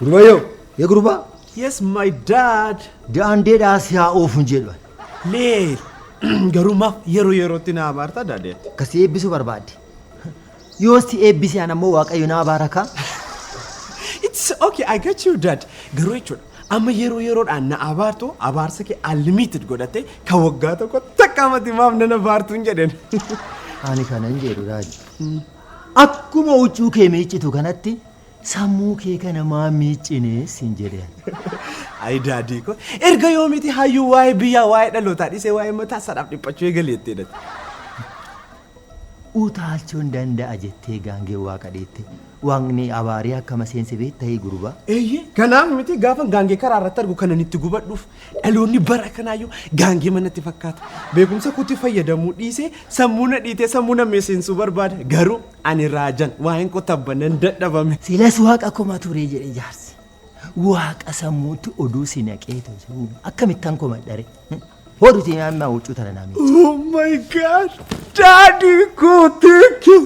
Gurbayyoo, ya gurbaa, Yes, my dad. daandeedhaa si haa oofu jedhu. Leel. Garuu maaf yeroo yerootti na abaarta daadeetti. Akkasii eebbisuu barbaadde. Yoo si eebbise an ammoo waaqayyo naa baaraka. It's okay, I get you dad. Garuu jechuudha amma yeroo yeroodhaan na abaartu abaarsa kee unlimited godhattee ka waggaa tokko takka amati maaf nana baartuun jedhen. Ani kanan jedhu raaji. Akkuma huccuu kee miiccitu kanatti sammuu kee kana maa miiccine siin jedhe. Ayi daadii ko erga yoomiti hayyuu waa'ee biyyaa waa'ee dhalootaa dhisee waa'ee mataa isaadhaaf dhiphachuu eegaleettee dha. Utaalchoon danda'a jettee gaangeen waaqa dheette. Waaqni abaaree akkama seense beettayii gurbaa? Eeyyee, kanaaf miti gaafan gaangee karaa irratti argu kanan itti gubadhuuf. Dhaloonni bara kanaayyuu gaangeema natti fakkaata. Beekumsa kootti fayyadamuu dhiisee sammuu na dhiitee sammuu na mi'eessinsuu barbaada. Garuu ani raajan waa'een koo tabba nan dadhabame. Silas waaqa koma ture jedhe jaarsi. Waaqa sammuutti oduu si naqee tosuu akkamittan komadhare. Hoduti amma huccuu tana naamee. Oh my god! Daadii koo thank you!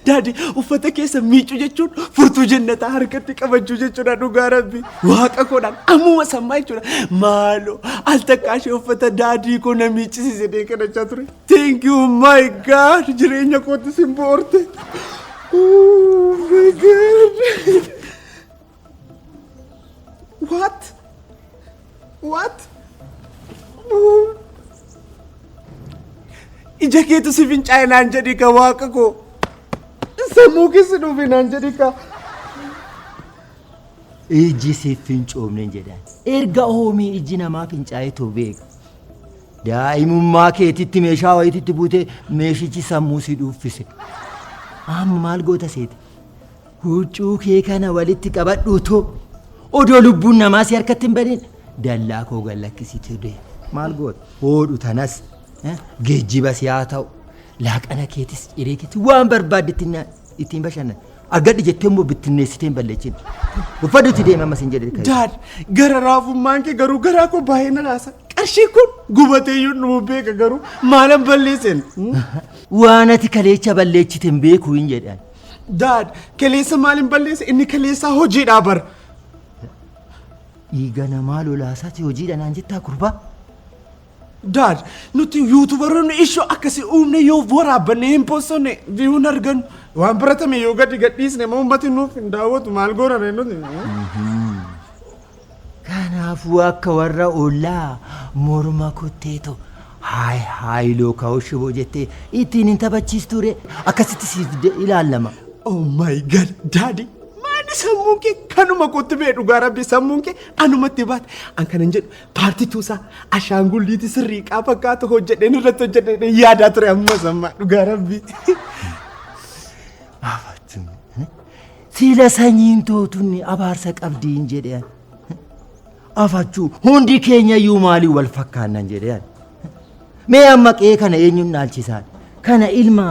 Daadii uffata keessa miicuu jechuun furtuu jennataa harkatti qabachuu jechuudha dhugaa rabbi. Waaqa koodhaan ammuma sammaa jechuudha. Maaloo al takkaa ishee uffata daadii koo na miiccisiise deekanachaa ture. Thank you my god jireenya kootti sin boorte. Oh my god. What? What? Oh. Ija keetu si fincaa'e naan jedhi ka waaqa koo. Sammuu keessa dhufe naan jedhi ka. Iji siif fincoomne jedhan. Erga hoomii iji namaa fincaa'etu beeku. Daa'imummaa keetitti meeshaa wayititti buute meeshichi sammuu si dhuuffise. Amma maal goota seete? Huccuu kee kana walitti qabadhuutu odoo lubbuun namaa si harkatti hin badin dallaa koo gad lakkisiitu dee. Maal goota? Hoodhu tanas eh, geejjiba si haa ta'u. Laaqana keetis ciree keetis waan barbaaddetti nyaadhu. ittiin bashannan argadhi jettee immoo bittinneessitee hin balleechin uffadhuti deema ammas hin jedhe ka'e. Daad gara raafummaan kee garuu garaa koo baay'ee na raasa. Qarshii kun gubatee iyyuu nu beeka garuu maalan balleesseen. waan ati kaleecha balleechite hin beeku hin jedhan Daad kaleessa maaliin balleessa inni kaleessaa hojiidhaa bar. dhiiga namaa lolaasaati hojiidha naan jettaa gurbaa Daad, nuti yuutubaroonni ishoo akkasii uumne yoo waraabbanne hin poostonne viyuu hin argannu. Waan baratame yoo gadi gadhiisne immoo uummati nuuf hin daawwatu maal goonaree nuti. Kanaafuu akka warra ollaa morma kuttee too haay haay lookaa'u shiboo jettee ittiin hin taphachiistuure akkasitti siif de- ilaallama. Oh my god, daadi. Maali sammuun kee kanuma kootti bee dhugaa rabbi sammuun kee anumatti baate. An kanan jedhu Paartituu isaa ashaangulliitii sirrii qaa fakkaatu hojjedheen irratti hojjedheen yaadaa ture ammas ammaa dhugaa rabbii. Siila sanyiin tootunni abaarsa qabdiin jedheen. Afachuu hundi keenya iyyuu maalii wal fakkaannan jedheen. Mee amma qe'ee kana eenyuun dhaalchisaan? Kana ilma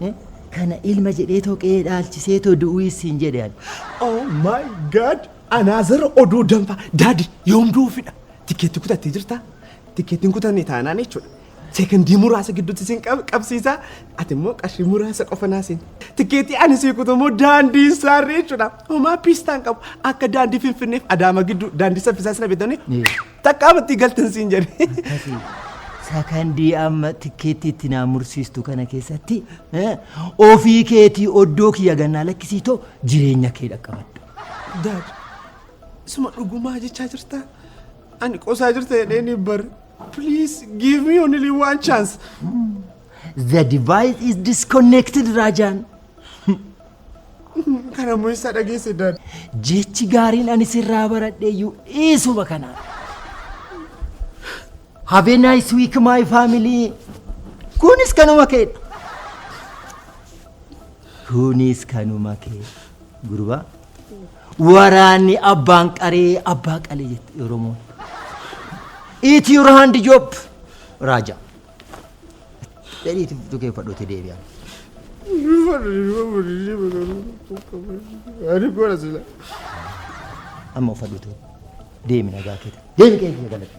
eh, kana ilma jedhee too qe'ee dhaalchisee too du'uu issiin jedheen. Oh my god! Anaazer oduu danfaa daadi yoom duufidha tikeetti kutattee jirta tikeettiin kutanne taanaan jechuudha seekandii muraasa gidduutti siin qab- qabsiisa ati immoo qarshii muraasa qofa naasiin tikeettii ani sii kutu immoo daandii saarree jechuudha homaa piistaan qabu akka daandii finfinneef adaama gidduu daandii saffisaa sina bitanii takka amattii galtan siin jedhe Sakandii amma tikkeetti itti naa mursiistu kana keessatti eh, ofii keetii oddoo kiyya gannaa lakkisiitoo jireenya kee dhaqqabadhu. Daad, suma dhugumaa jechaa jirtaa? Ani qosaa jirta jedhee ni bar. Please give me only one chance. The device is disconnected, Rajan. Kana immoo eessaa dhageesse daad? Jechi gaariin ani sirraa baradheeyyuu eesuma kana. Have a nice week, my family. Kunis kanuma keedha. Kunis kanuma keedha. Gurbaa waraanni abbaan qaree abbaa qalee jette Oromoon. Eat your hand job raajaa. Jedhiitu tukeeffadhuuti deebi'an. Amma uffadhuutu deemi nagaa keeta. Deemi qe'ee kee galatti.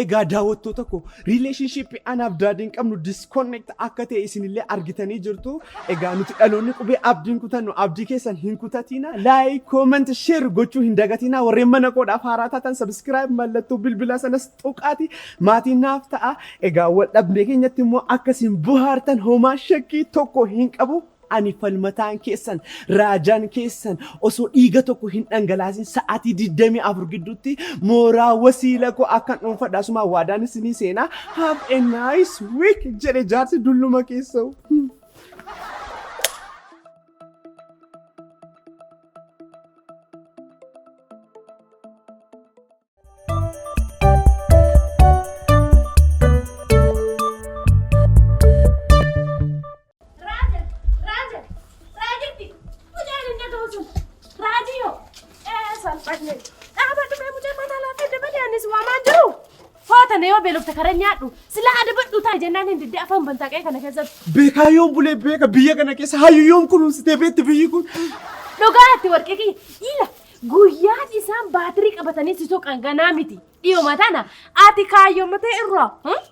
Egaa daawwattoota koo relationship anaaf daadiin qabnu disconnect akka ta'e isinillee argitanii jirtu. Egaa nuti dhaloonni qubee abdiin kutannu abdii keessan hin kutatiina. Like, comment, share gochuu hin dagatiina. Warreen mana koodhaaf haaraa taatan subscribe mallattoo bilbilaa sanas tuqaati maatii naaf ta'a. Egaa wal dhabdee keenyatti immoo akkasiin bohaartan homaa shakkii tokko hin qabu. Ani falmataan keessan, raajaan keessan osoo dhiiga tokko hin dhangalaasin sa'aatii 24 gidduutti mooraa wasiila koo akkan dhuunfadha asumaan waadaan isinii seenaa have a nice week jedhe jaarsi dulluma keessa'u. beelofte karaa nyaadhu sila adabadhu ta'a jennaan hin didde afaan bantaa qe'ee kana keessatti. Beekaa yoon bulee beeka biyya kana keessa hayyu yoon kunuunsitee beekti biyyi kun. Dhugaa itti warqee kiyya dhiila Guyyaan isaan baatirii qabatanii si soqan ganaa miti. Dhiyoma tana ati kaayyomatee irraa hmm?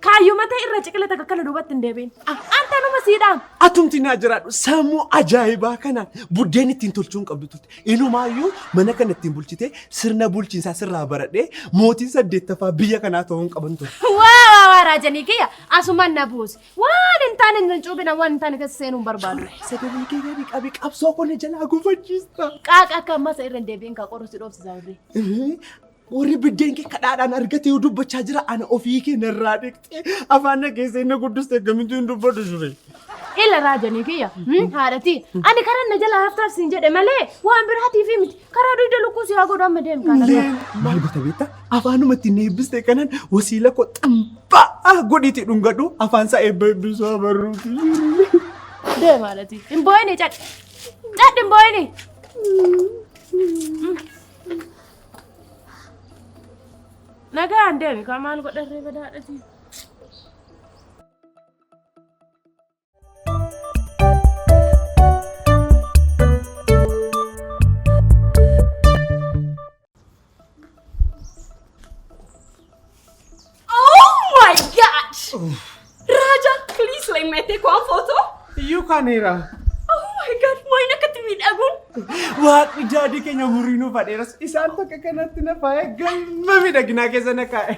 kaayyomatee irra ciqila takka kana duubatti hin deebiin. Ah, Anta numa siidhaan. Atumti naa jiraadhu sammuu ajaa'ibaa kanaan buddeen ittiin tolchuun qabdu turte. Inumaayyuu mana kana ittiin bulchitee sirna bulchiinsaa sirraa baradhee mootiin saddeettaffaa biyya kanaa ta'uun qaban ture. Waa waa waa raajanii kiyya asumaan na buusi. Waan hin taane hin cuubina waan hin taane keessa seenuu hin barbaadu. Sagalee kee gadi qabi qabsoo koo na jalaa gufachiista. Qaaqa akka ammaa isa irra hin deebi'in kaa qorru si dhoofsisa warri. Warri biddeen kee kadhaadhaan argate yoo dubbachaa jira ana ofii kee narraa dhiqxee afaan na keessee na guddiste akkamitti hin dubbadhu jure. Ila raajanii kiyya haadhatii ani karan na jalaa haftaaf siin jedhe malee waan biraatiif miti Karaa dugda lukkuu si haa godhu amma deemu kana. Maal goota beektaa? Afaanuma ittiin eebbiste kanan wasiila koo xambaa godhiitii dhungadhu afaan isaa eebba eebbisuu abarruuti. Deema alati. Hin boo'ini cadhi. Cadhi hin boo'ini. Nagaan deemi kaa maal godharree badaadhati. kaneera. Oh my god, maal akkatti miidhaguun. Waaqni jaadii keenya umurii nu fadheeras isaan takka kanatti na faaya galma miidhaginaa keessa na kaa'e.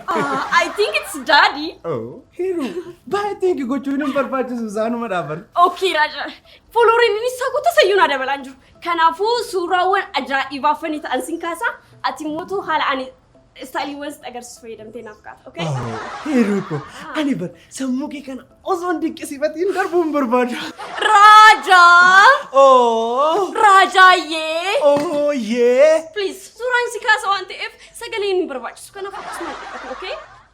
I think it's daddy. Oh. Heeru baay'ee teenki gochuun hin barbaachisu isaanuma dhaaban. Ookii Raaja, foolooriin inni isaa guutuu sayyuu naa dabalaa hin jiru. Kanaafuu suuraawwan ajaa'ibaa fanii ta'an sin kaasaa ati mootuu haala ani istaayiliiwwan sitti agarsiisu fayyadamtee naaf kaasa. Okay? Heeru ko ani bar sammuu kee kana osoo hin dinqisiifatiin darbuu hin barbaadu. Raaja! Oo! Raajaayyee! Oo yee! Please suuraan si kaasa waan ta'eef sagaleen hin barbaachisu. Kanaaf akkasumaan dhiqatu. Okay?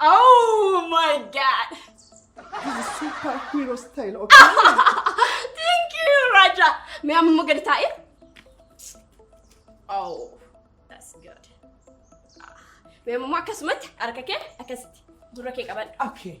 Oh my god! Super hero style, okay? Thank you, Raja. May I move get taa'e? Oh, that's good. May I move akkasumatti harka kee akkasitti dura kee qabadhu. Okay.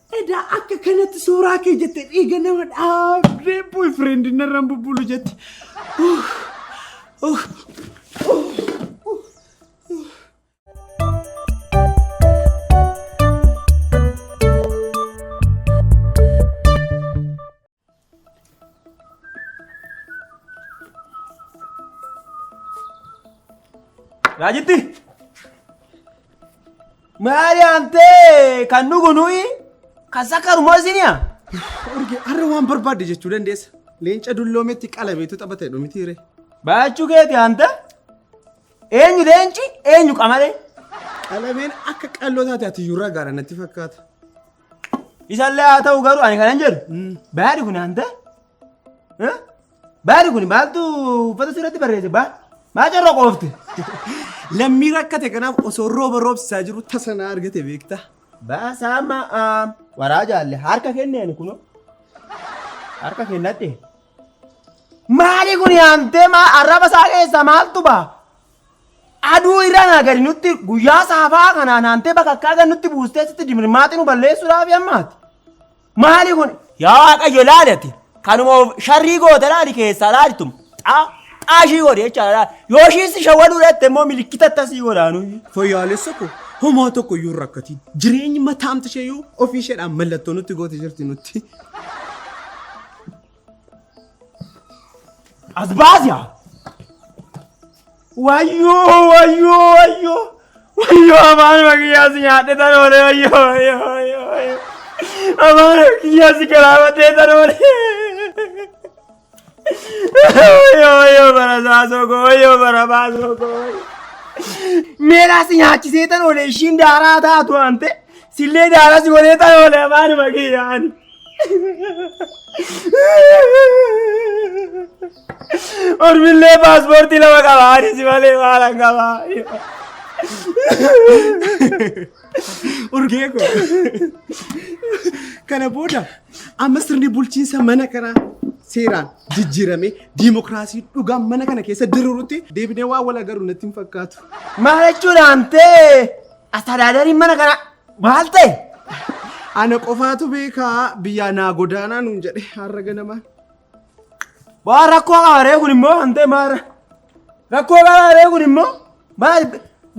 Edaa akka kanatti suuraa kee jette dhiiga nama dhaabdee boy friend narraan bubbulu jette. Raajitti! Maali amtee kan dhugu nuyi kan sakkarumoo isiniya? Urge har'a waan barbaadde jechuu dandeessa. Leenca dulloometti qalabeetu taphata jedhu miti ree. Baachuu keeti anta? Eenyu leenci eenyu qamalee? Qalabeen akka qalloo taate ati iyyuu ragaadha natti fakkaata. Isallee haa ta'u garuu ani kanan jedhu baadi kun hanta baadi kun maaltu uffata sirratti barreesse baa maa carra qoofte. Lammii rakkate kanaaf osoo rooba roobsisaa jiru tasa na argate beekta. Baasaa amma waraa jaalle harka kenne ani kunoo harka kennadhe. Maali kun yaamtee maa arraba isaa keessaa maaltu baa? Aduu irra naa gadi nutti guyyaa saafaa kanaa naantee bakakkaa gad nutti buustee sitti dimirmaatti nu balleessuudhaaf yammaati. Maali kun? Yaa Waaqayyo laali ati. Kanuma of sharrii goote laali keessaa laalitum. Xaa xaa ishii godhe jechaadha laali. Yoo ishii si shawwaduu dhatte immoo milikkita tasii godhaanu. Fooyyaalessa koo homaa tokko iyyuu hin rakkatiin. Jireenyi mataamti ishee iyyuu ofii isheedhaan mallattoo nutti goote jirti nutti. As baasi haa! Wayyoo wayyoo wayyoo wayyoo afaan makiyyaa si nyaadhe tan oole wayyoo wayyoo wayyoo wayyoo afaan makiyyaa si galaafatee tan oole wayyoo wayyoo bara saasoo koo wayyoo bara baasoo koo wayyoo. Meelaa si nyaachisee tan oole ishiin daaraa taatu hante sillee daaraa si godhee tan oole afaan makiyyaani. Ormillee paaspoortii lama qaba anis malee maala qaba. Urgee koo. Kana booda amma sirni bulchiinsa mana kanaa seeraan jijjiiramee diimokiraasii dhugaa mana kana keessa diriirutti deebinee waan wal agarru natti hin fakkaatu. Maal jechuudhaan ta'e astaadaadariin mana kana Maal ta'e? Ana qofaatu beekaa biyyaa naa godaanaa nuun jedhe har'a ganamaa. Waa rakkoo qabaree kun immoo hantee maara. Rakkoo qabaree kun immoo maal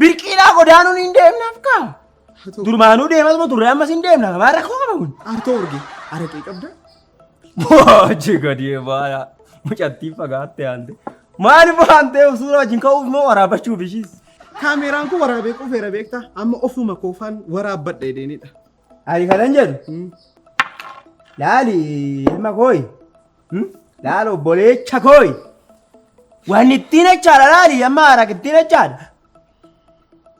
birqiidhaa godaanuun hin deemnaaf kaa. Durmaanuu deematuma turre ammas hin deemnaaf maal rakkoo qaba kun. Artoo urge araqee qabda. Boochi gadi baala. Mucattiin fagaattee aante. Maaliif aantee suuraa wajjin ka'uuf moo waraabachuuf ishiis? Kaameeraan kun waraabee qufeera beektaa? Amma ofuma koofaan waraabbadha jedheenidha. Ani kanan jedhu laali ilma kooyi laal obboleecha kooyi waan ittiin jechaadha laali amma haaraak ittiin jechaadha.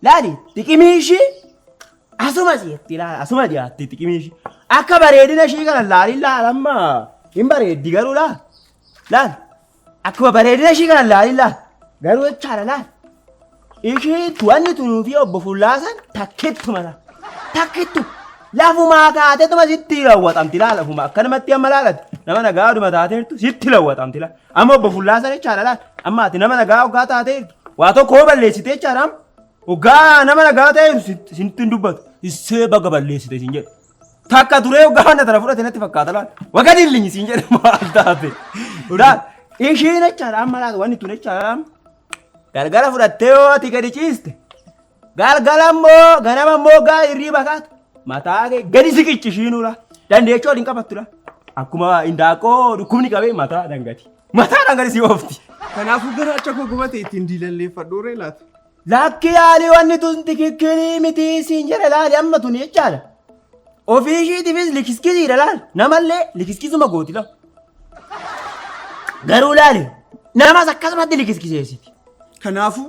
Laali xiqimii ishii asuma si'etti laala asuma dhiyaatti xiqimii ishii akka bareedina ishii kana laaliin laala amma hin bareeddi garuu laala laala akkuma bareedina ishii kana laaliin laala garuu jechaadha laala ishii tuwanni tunuu fi obbo Fullaasan takkittu mala takkittu lafumaa kaateetuma sitti raawwatamti laala lafuma akkanumatti amma laalatti nama nagaaduma taateertu sitti raawwatamti laala. Amma obbo Fullaasaa jechaadha laal. Amma ati nama nagaa hoggaa taatee jirtu. Waa tokko hoo balleessitee jechaadha amma. Hoggaa nama nagaa ta'e jirtu sin- sintu hin dubbatu. Issee baga balleessite sin jedhu. Takka turee hoggaa wanna tana fudhate natti fakkaata laal. Waga dillinyi sin jedhe maal taate. Laal. Ishiin jechaadha amma laal wanni tun jechaadha amma. Galgala fudhattee yoo ati gadi ciiste. Galgala immoo ganama immoo gaa hirriiba kaatu. Mataa kee gadi siqichi shiinuudha. Dandeechoo waliin qabattuudha. Akkuma indaaqqoo dhukkubni qabee mataa dangati. Mataa dangati si oofti. Kanaafuu garaacha koo gubate ittiin diilalleeffadhu ree laata. Lakki yaalii wanni tun tikikkirii miti siin jedhe laali amma tun jechaadha. Ofii ishiitiifis likiskisiidha laali. Namallee likiskisuma gooti lafa. Garuu laali namas akkasumatti likiskiseessiti. Kanaafuu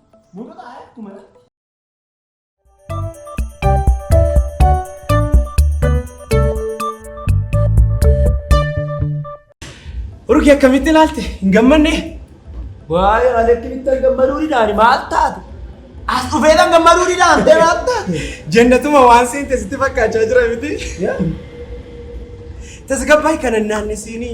Mootota Aayat kumadha. Urgi akkamitti ilaalte? Hin gammanne? Waa'ee maleetti bittan gammaduu didaan maal taate? As dhufeedhaan gammaduu didaan ta'e maal taate? Jannatuma waan seente sitti fakkaachaa jira miti? Tasgabbaa'ii kana naannesiinii.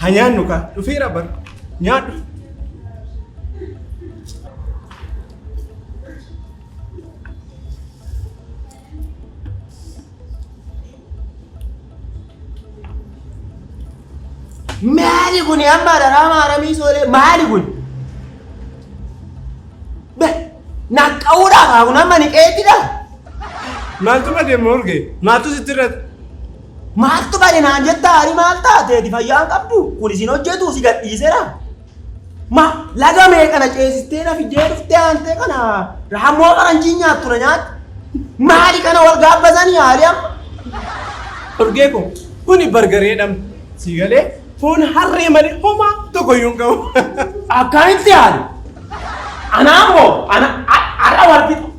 Ha nyaannu kaa dhufeera bar nyaadhu. Maali kun amma daraama haramii soolee maali kun? Be naqqa'uudhaaf haa kun amma ni qeettidha. Maaltu badee morge? Maaltu sitti irratti? Maaltu bade naan jettaa hari maal taateeti fayyaa hin qabdu kun isin hojjetu si gadhiisera. Ma laga meeqa na ceesistee na fiddee dhuftee aantee kana raammoo faranjii nyaattu na nyaatti. Maali kana wal gaabbasanii haali amma. Urgee koo kuni bargaree dham si galee foon harree malee homaa tokko iyyuu hin qabu. Akkamitti haali? Anaa moo ana har'a wal fixa.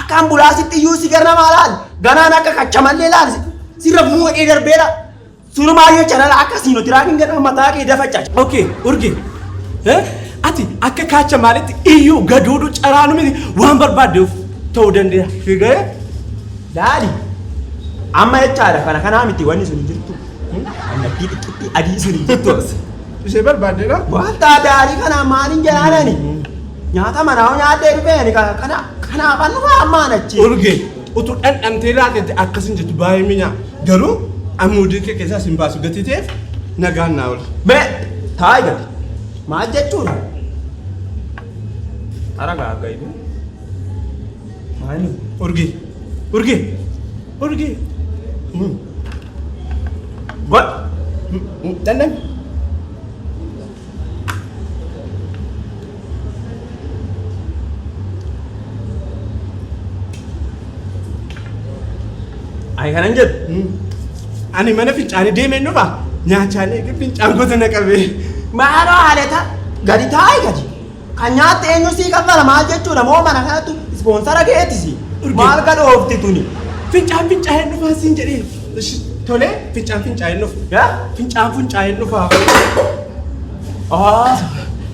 Akka ambulaasitti iyyuu si gara namaa laal ganaan akka kachamallee laal sirra fumuu hidhee darbeera. Surumaayyoo chanala akka siino tiraakiin ganaa mataa kee dafachaa. Okay, urge. Eh? Ati akka kaacha maalitti iyyuu gaduudu caraanu miti waan barbaaddeef ta'uu dandeera. Fiigee laali. Amma jechaadha kana kanaa miti wanni sun hin jirtu. Annattii xiqqittii adii sun hin jirtu. Ishee barbaaddeera? Wanta adaarii kana maaliin jalaanani? Nyaata manaa hoo nyaadhee dhufee ani ka- kana kanaafan dhufaa ammaan achi. Urge utuu dhandhamtee laatetti akkas hin jettu baay'ee minya garuu amuudii kee keessaa sin baasu gatii ta'eef nagaan naa oolu. Mee taa'e gadi. Maal jechuudha? Hara gaagga ibu. Maali? Urge urge urge God. dhandhami. Ay kanan jedhu ani mana fincaanii deemeen dhufa nyaachaalee fincaan gosa na qabee. Maaloo haalata gadi taa'e gadi. Kan nyaatte eenyu sii kaffala maal jechuudha moo mana kanattu sponsara keeti si maal gadhoofti tuni. Fincaan fincaa'een dhufaa siin jedhee. Ishi tolee fincaan fincaa'een dhufa. Ya? Fincaan funcaa'een dhufaa. Ah,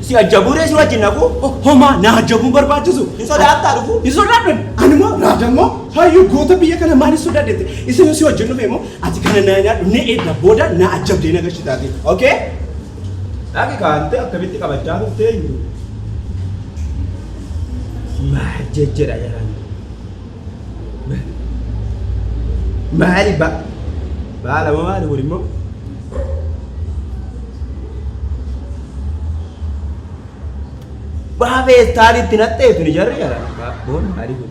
si ajjabuuree si wajjin naqu Ho- Homaa na ajjabuun barbaachisu. hin sodaattaa dhufu. Hin sodaadhan. Ani immoo raadammoo hayyuu goota biyya kana maal hin sodaadhete. Isin si wajjin dhufe immoo ati kana na nyaadhu na eegda booda na ajjabdee na gashitaati. Okay? Dhaqi kaante akkamitti qabachaa turte hin jiru. Maal jejjedha jedhan. Maali ba baala moo maali kun immoo? Waa feestaan itti naqxee tuni jarri jala. Boon maali kun?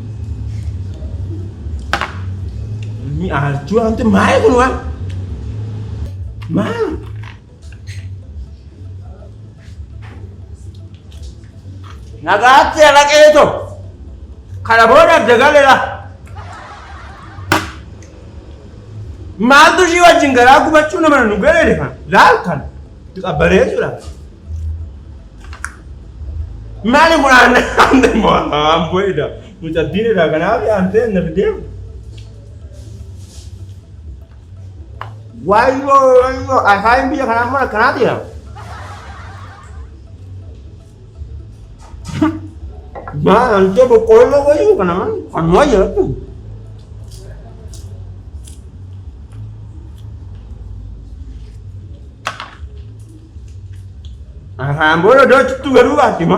Ni aarjuu wanti maayee kun waan. Maal? Nagaatti alaqee too. Kana booda adda galeera. Maaltu ishii wajjin garaa gubachuu nama nu galee deema. Laal kana. Qabbanee jechuudha. Maali kun aannan aannan moo amboo ida mucattiin ida kanaaf aannan na fidee. Waayoo waayoo afaan biyya kanaa immoo akkanaati yaa. Maa namicha boqqoolloo wayii kana man kan wayya jettu. Afaan booda iddoo cittuu garuu baatti ma.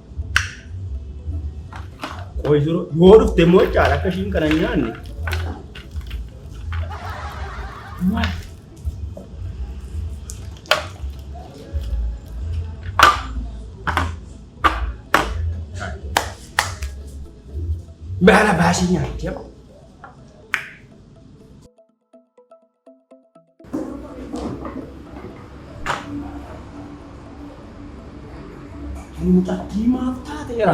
Qoy jiru yoo dhufte immoo caala akka ishiin kana hin nyaanne. Baala baasii nyaatti amma. Muuxattii maaf taateera?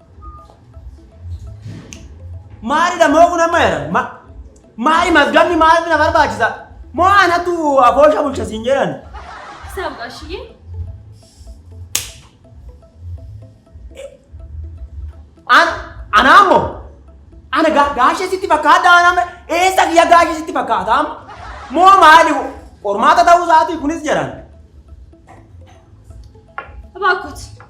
Maalidha moo kun amma jedha? Ma maali mazgamni maaliif na barbaachisa? Moo anatu aboosha bulcha siin jedhan? Saaf gaashiyee. An anaa moo? Ana ga gaashee sitti fakkaata anaa eessa kiyya gaashee sitti fakkaata amma? Moo maali qormaata ta'uu isaatii kunis jedhan? Abaakkot.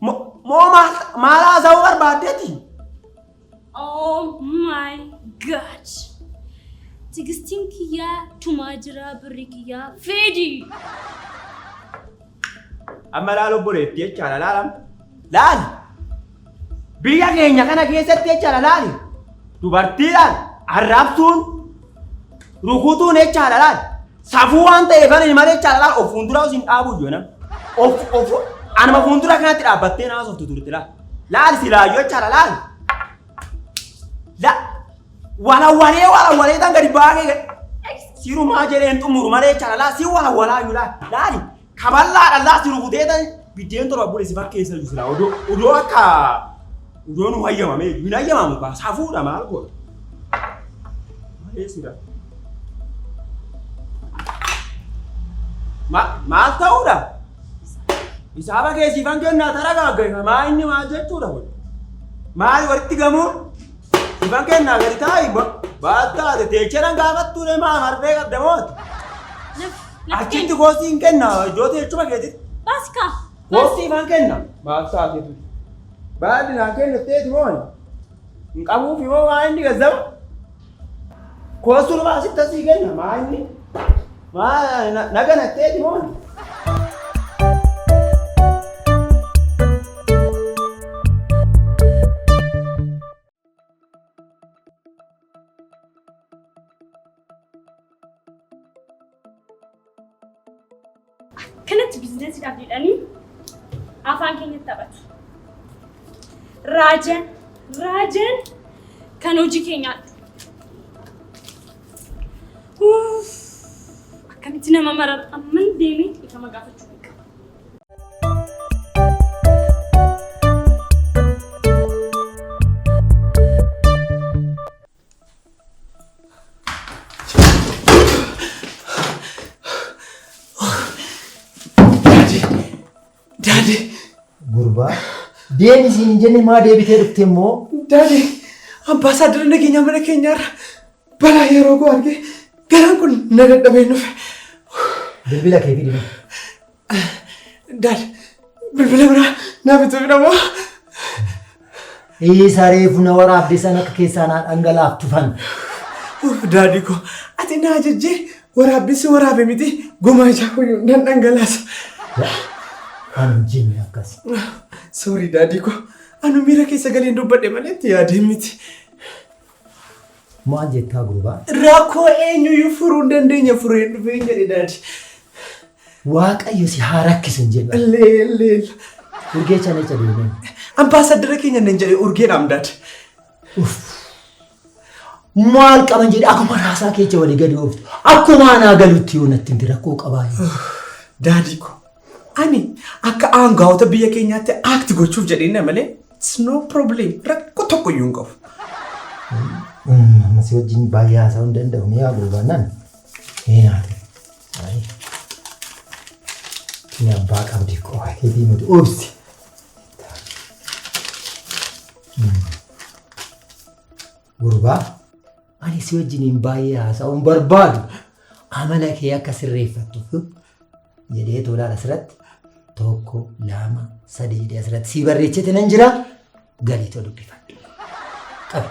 Mo- Moo maal maal haasa'uu barbaaddeeti? Oh my god. Tigistiin kiyyaa tumaa jiraa birri kiyyaa feedi. Amma laal obboleetti jechaadha laalam. Laali. Biyya keenya kana keessatti jechaadha laali. Dubartiidhaan arrabsuun rukutuun jechaadha laali. Safuu waan ta'eef ani malee jechaadha laal of fuuldura isin dhaabuu iyyuu nam. Of of anuma fuuldura kanatti dhaabbattee naas of tuturti laal. Laal si laal yoo jechaadha laal. La walawwalee walawwalee tan gadi baagee gadi. Sirumaa jedheen xumuru malee jechaadha laal si walawwalaa iyyuu laal laali. Kaballaa dhallaa si rukutee ta'e biddeen torba bule si fakkeessa iyyuu silaa odoo odoo akka odoo nu hayyamame iyyuu hin hayyamamu kaa safuudha maal godha. Malee sira. Ma- Maal ta'uudha? Isaaba kee siifan kennaa tara gaaggeessa maa inni maal jechuudha kun? Maal walitti gamuun? Siifan kennaa gadi taa'i baal taate teecheran gaafattuudha maa marfee qabda mooti? Achitti goosii hin kenna ijooti jechuma keetitti. Baasi kaa. Goosii ifaan kenna. Maaf saateetu. Baadhi naa kennitteeti moon. Hin qabuuf immoo maa inni gazzaba. Koosuu nama asitti asii kenna maa inni. Maa na- na ganatteeti moon. Kanatti biizinasiidhaaf jedhanii afaan keenyatti taphatu. Raajan, raajan kan hojii keenyaatti. Uff, Akkamitti nama marara amman deemee dhiifama gaafachuu hin qabu. Gurbaa deemi isiin hin jenne maa deebitee dhufte immoo? Daadee abbaa isaa dura nageenya mana keenyaarra Balaa yeroo koo argee garaan kun na dadhabee nufe. Bilbila kee fidime. Daal bilbila biraa naa bituu fidhamoo. Isa reefu na waraabde san akka keessaa naa dhangalaaf tufan. Daadhii koo ati naa jejjee waraabessi waraabe miti gomaa ijaa kuyyuu nan dhangalaasa. Kan jinni akkas. Soorii daadhii koo anu miira keessa galeen dubbadhe malee itti yaadeen miti. Maal jettaa gurbaa? Rakkoo eenyuyyuu furuu hin dandeenye fureen dhufeen jedhe daadi. Waaqayyo si haa rakkisu hin jenna. Leel leel. Urgee chalecha deemee. Ambaasaddara keenya nan jedhe urgeen amdaad. Maal qaban jedhe akkuma raasaa keecha walii gadi ooftu. Akkuma anaa galutti yoo natti himte rakkoo qabaa. Daadii koo Ani akka aangaa'ota biyya keenyaatti act gochuuf jedheenna malee it's no problem rakkoo tokko iyyuu hin qabu. Amma si wajjin baay'ee haasa'uu hin danda'u ni haa gurbaannaan. Ni haate. Ni abbaa qabdi qofa keetii nuti obsi. Gurbaa ani si wajjiniin baay'ee haasa'uun barbaadu amala kee akka sirreeffattuuf jedhee tolaan asirratti tokko lama sadii jedhee asirratti sii barreechite nan jira galii too dubbifadhu. Qabi.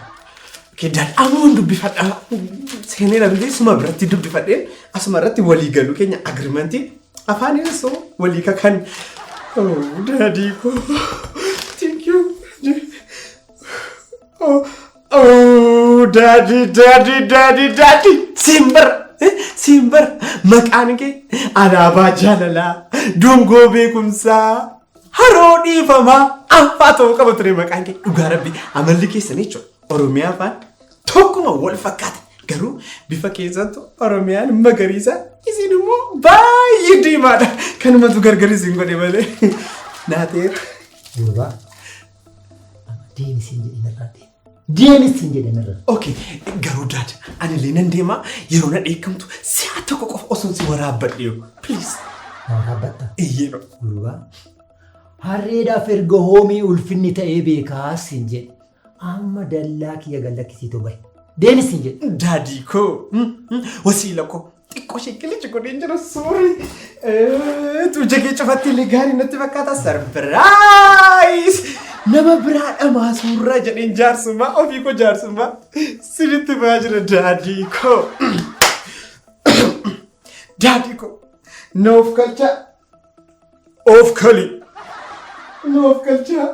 Kiddaan amoon dubbifadha. Seenee dhabdee suma biratti dubbifadhee asuma irratti walii galuu keenya agirimantii afaan irratti walii kakan. Daadii koo. Thank you. Oh. Oh, daddy, daddy, daddy, daddy. Simbar, eh, simbar. Maqaan kee alaabaa jaalalaa, dungoo beekumsaa, haroo dhiifamaa, affaa ta'uu qaba ture maqaan kee. Dhugaa rabbi amalli keessan jechuudha. Oromiyaa afaan tokkuma wal fakkaata. Garuu bifa keessattu Oromiyaan magariisa isin immoo baay'ee diimaadha. Kanumatu gargar isin godhe malee. Naatee. Durbaa. Deemi siin jedhe narraa deemi. Deemi siin jedhe narraa. Okay, garuu daad anillee nan deemaa yeroo na dheekkamtu si'a tokko qofa osoo si waraabbadhe yoo. Please. Na waraabbatta. Iyyee no. Ulubaa. Harreedhaaf erga hoomii ulfinni ta'ee beekaa siin jedhe. Amma dallaa kiyya gallakkisiitoo bahe. Deemi siin jedhe. Daadii koo. Wasiila koo. Xiqqoo ishee qilichi godhee jira suuri. Tuuja kee cufatti illee gaarii natti fakkaata sarpiraayiis. Nama biraa dhamaa suurraa jedheen jaarsummaa ofii koo jaarsummaa sinitti ba'aa jira daadii koo. Daadii koo noof kalchaa oof kali noof kalchaa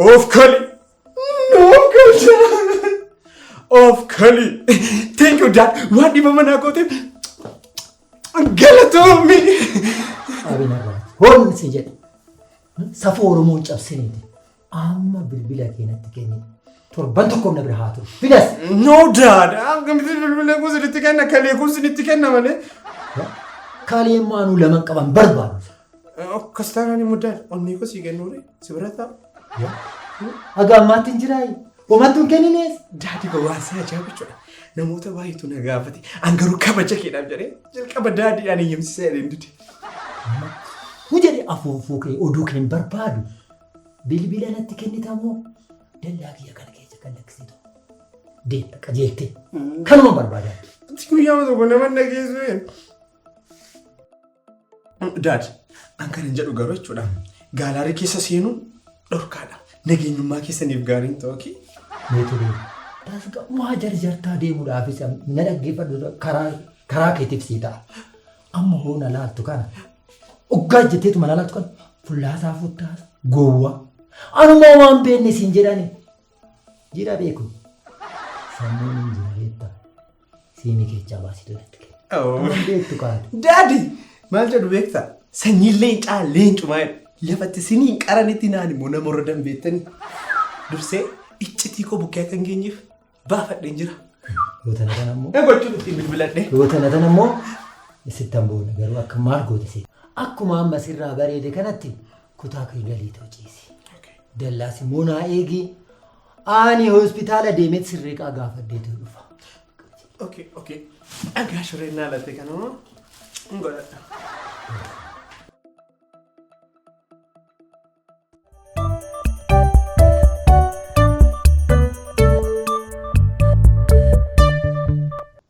oof kali Of kali. Thank you dad. Waan dhibama naa gooteef galatoomi. Abina gaafate. Hoolli si jedhe. Safuu Oromoo cabsiniiti. Amma bilbila keenyatti kenni. Torban tokko na bira haa turu. Fidas. No dad. Akkamitti bilbila kun sinitti kenna kalee kun sinitti kenna malee. Kalee maanuu laman qaban barbaadu. Akkas taanaan immoo daal onnee koo sii kennuure si bira taa'u. Haga ammaatti hin jiraayi. Homattu hin kenninees. Daadhi koo waan si ajaa'ibu jechuudha. Namoota baay'eetu na gaafate. An garuu kabaja keedhaaf jedhee jalqaba daadhii ani yemsisee adeem dide. Ni jedhe afuufuu kee oduu kee hin barbaadu. Bilbila natti kennitamoo dallaa kiyya kana keessa kan lakkisitu. Deemta qajeeltee. Kanuma barbaadaa. Guyyaa tokko nama nageessu. Daad, an kan hin jedhu garuu jechuudha. Gaalaarii keessa seenuun dhorkaadha. Nageenyummaa keessaniif gaariin ta'u okay? Mee turee. Tasga waa jarjartaa deemuudhaaf isa na dhaggeeffadhu karaa karaa keetiif sii ta'a. Amma hoo na laaltu kana. Oggaa jetteetu mana laaltu kana. Fullaasaa futtaasa. Gowwaa. Anumaa waan beenne siin jedhani. Jira beekun. Sammuun hin jira beektaa. Siimii keechaa baasii dolaatti kenna. Waan beektu kaatu. Daadi! Maal jedhu beektaa? Sanyiin leencaa leencumaa jedhu. Lafatti siniin qaranitti naan immoo nama warra danbeettanii. Dursee iccitii koo bukkee akka hin geenyeef baafadheen jira. Yoo tana tana immoo. Ee gochuun ittiin bilbiladhee. Yoo tana tana immoo sittan boona garuu akka maal goote seeta. Akkuma amma sirraa bareede kanatti Kutaa kee galii too ciisi. Dallaas immoo naa eegi. Ani hospitaala deemee sirreeqaa gaafadhee too dhufa. Okay, okay. Dhagaa shoreen naa latte kanuma. Hin godhadha.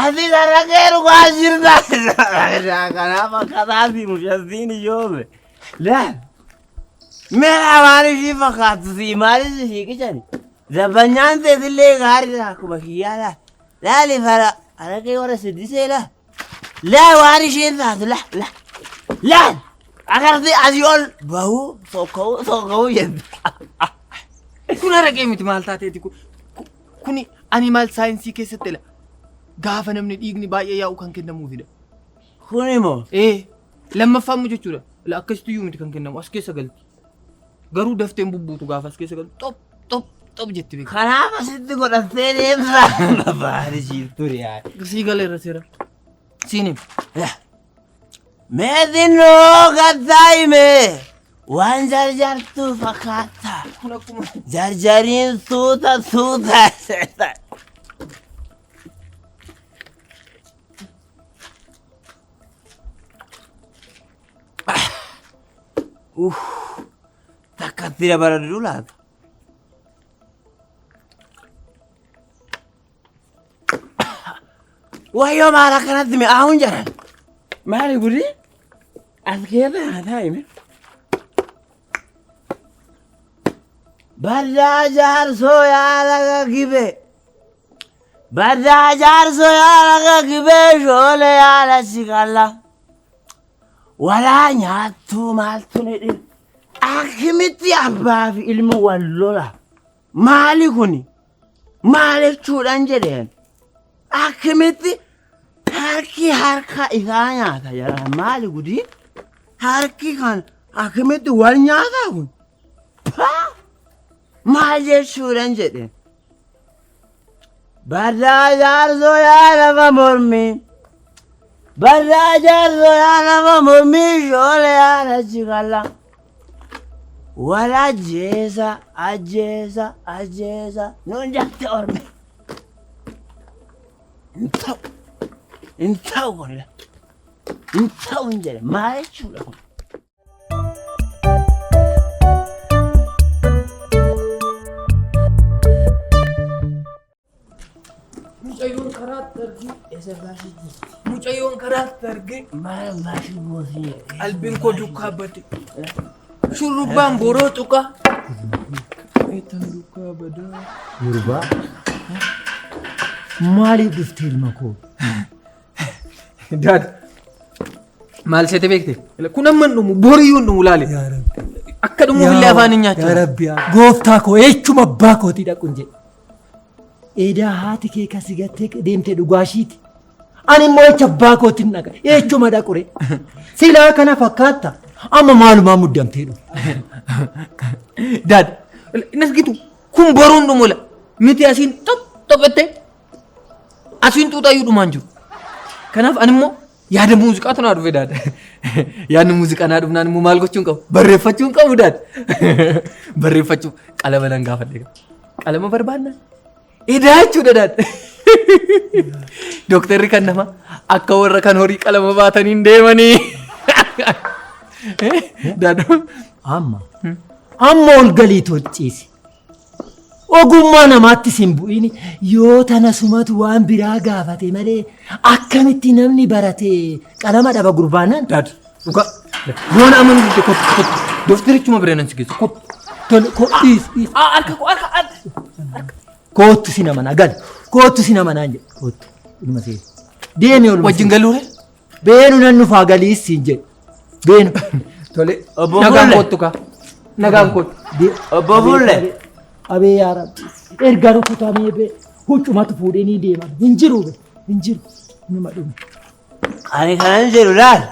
Ati gara kee dhugaa jirta. Kanaaf akkataati mucattiin ijoole. Laal. Meeraa waan ishii fakkaattu sii maalis ishii qicani. Zabbanyaan teetillee gaariidha akkuma kiyyaa laal. Laali fara kana kee warra siddisee laal. Laal waan isheen taatu laal laal. Laal. Akarti asii ol bahuu sokka'uu sokka'uu jette. Kun araqee miti maal taateeti kun. Kuni animal saayinsii keessatti ila gaafa namni dhiigni baay'ee yaa'u kan kennamuufidha. Kun immoo Ee lammaffaa immoo jechuudha. Ila akkasitti iyyuu miti kan kennamu as keessa galti. Garuu dafteen bubbuutu gaafa as keessa galti xop xop xop jetti beeku. kanaaf asitti godhattee deemsa. Babaadisiif ture yaa. Sii galeera seera. Siin hima. Meetiin noo gattaa himee waan jarjartuu fakkaata. Kun akkuma Jarjariin suuta suuta seeta. Takka itti dabaladhu laata? Wayyoo maal akkanatti mi'aawuun jedhan. Maali gudii? As keessa haa taa'ime. Baddaa jaarsoo yaala gaggibee. Baddaa jaarsoo yaala gaggibee shoolee yaala si qalla. Walaa nyaattuu maaltu ni dhibe. Akkamitti abbaa fi ilmi wal lola. Maali kuni? Maal jechuudhaan jedheen? Akkamitti harki harka isaa nyaata jedhan maali gudii? Harki kan akkamitti wal nyaataa kun? Paa! Maal jechuudhaan jedheen? Barraa jaarsoo yaa lafa mormii. Barraa jaarsoo yaa lafa mormii shoolee yaa nachi kalla. Wal ajjeesa ajjeesa ajjeesa nuun jette ormi. Hin ta'u hin ta'u kun hin ta'u hin jedhe maal jechuudha kun. Mucayyoon karaa dargee isa baashee jirti. Mucayyoon karaa dargee maal baashee boosee. Qalbiin koo dukkaa bade. Shurrubbaan boroo tuqaa. Eetan dukkaa badaa. Gurbaa. Maaliif dhufte ilma koo? Daad maal seete beekte? Kun amma hin dhumu boriyyuu hin dhumu laale. Yaa Rabbi. Akka dhumuuf illee afaan hin Yaa nyaachuu. Rabbi yaa gooftaa koo eechuma abbaa kootii dhaqun jedhe. Eedaa haati kee kasi gattee deemtee dhugaa ishiiti. Ani immoo eecha abbaa kootiin dhaqa eechuma dhaqure. Silaa kana fakkaatta amma maalumaa muddamtee dhufu. Daad hin argitu kun boruu hin dhumu la. Miti asiin xop xophattee Asiin xuuxaayyuu dhumaan jiru. Kanaaf ani immoo yaada muuziqaa tunaa dhufe daadha. Yaadni muuziqaa naa dhufnaan immoo maal gochuun qabu? Barreeffachuun qabu daadha. Barreeffachuuf qalama nan gaafadhe. Qalama barbaadna? Edaa jechuudha daadha. Dooktarri kan nama akka warra kan horii qalama baataniin deemanii. Daadha. Amma. Amma ol galii tolchiisi. Ogummaa namaattis hin bu'iin yoo tana sumatu waan biraa gaafate malee akkamitti namni barate qalama dhaba gurbaanaan. Daad dhugaa yoona amma nu didde kottu kottu doftirichuma bira nan si geessu kottu tole kottu dhiis dhiis. Harka koo harka harka. Koottu si nama na gal koottu si nama naan jedhe koottu ilma see deemi olma. Wajjin galuure. Beenu nan dhufaa galii siin jedhe. Beenu. Tole. Obbo Nagaan Bulle. kottu kaa. Nagaan kottu. Obbo Bulle. Abee yaa rabbi. Erga rukutamee bee. Huccumatu fuudhee ni deema. Hin jiru bee. Hin jiru. Numa dhume. Ani kanan jedhu laal.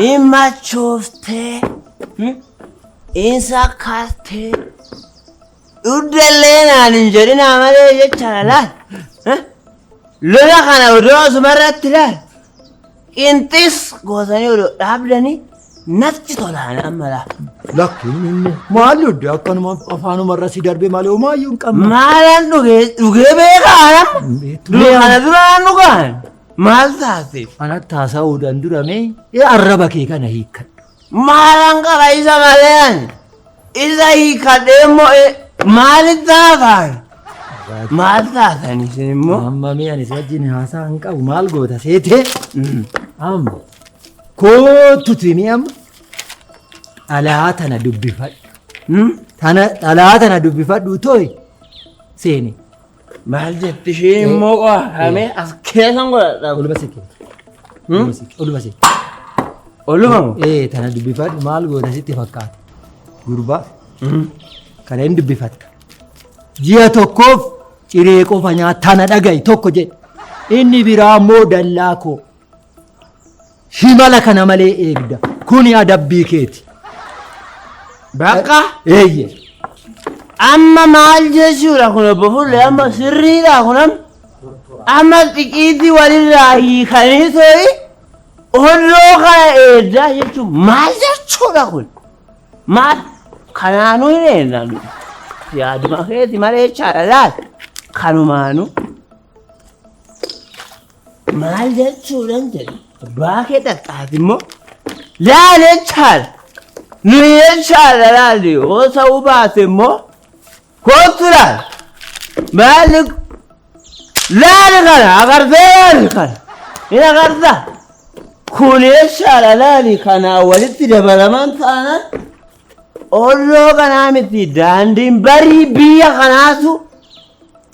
In machooftee. In sakkaartee. Dhuddellee naan hin jedhinaa malee jechaadha laal. Eh? Lola kana odoo asuma irratti laal. Qinxis gootanii odoo dhaabdanii natti tolaan amma laal. Lakki inni maal dhudde akkanuma afaanuma irra si darbee malee homaayyuu hin qabne. Maalaan dhugee dhugee beekaan amma. Dura kana duraan dhugaan maal taateef? Anatti haasa'uudhaan duramee arraba kee kana hiikkadhu. Maalan qaba isa malee ani. Isa hiikadhee immoo eh, maali taafaan? Maal taatan isin immoo? Amma mee ani si wajjin haasaa hin qabu maal goota seetee? Amma kootutu himi amma dhalaa tana dubbifadhu. Hmm? Tana dhalaa tana dubbifadhu tooyi seeni. Maal jetti ishee immoo qo'a kamee as keessan godhadha. Oluma sekkee. Oluma sekkee. Oluma sekkee. Oluma moo? Ee tana dubbifadhu maal goota sitti fakkaata. Gurbaa kana hin dubbifatta. Ji'a tokkoof ciree qofa nyaata tana dhaga'i tokko jedhe. Inni biraa immoo dallaa koo. Himala kana malee eegda. Kuni adabbii keeti. Bakka Eeyye. amma maal jechuudha kun obbo Fuullee amma sirriidha kun amma amma xiqiitii walirraa hiikanii ta'e onnoo kana eeddaa jechuun maal jechuudha kun maal kanaanuu hin eeddan yaaduma keeti malee jechaadha laal kanumaanuu. Maal jechuudhan jedhe abbaa kee dhaqxaati immoo laal jechaadha. Nuyi jechaadha laalli yoo ta'uu baate immoo kootu laal. Maalli laali kana agartee laali kana hin agarta. Kun jechaadha laali kanaa walitti dabalaman taanaan olloo kanaa miti daandiin barii biyya kanaatu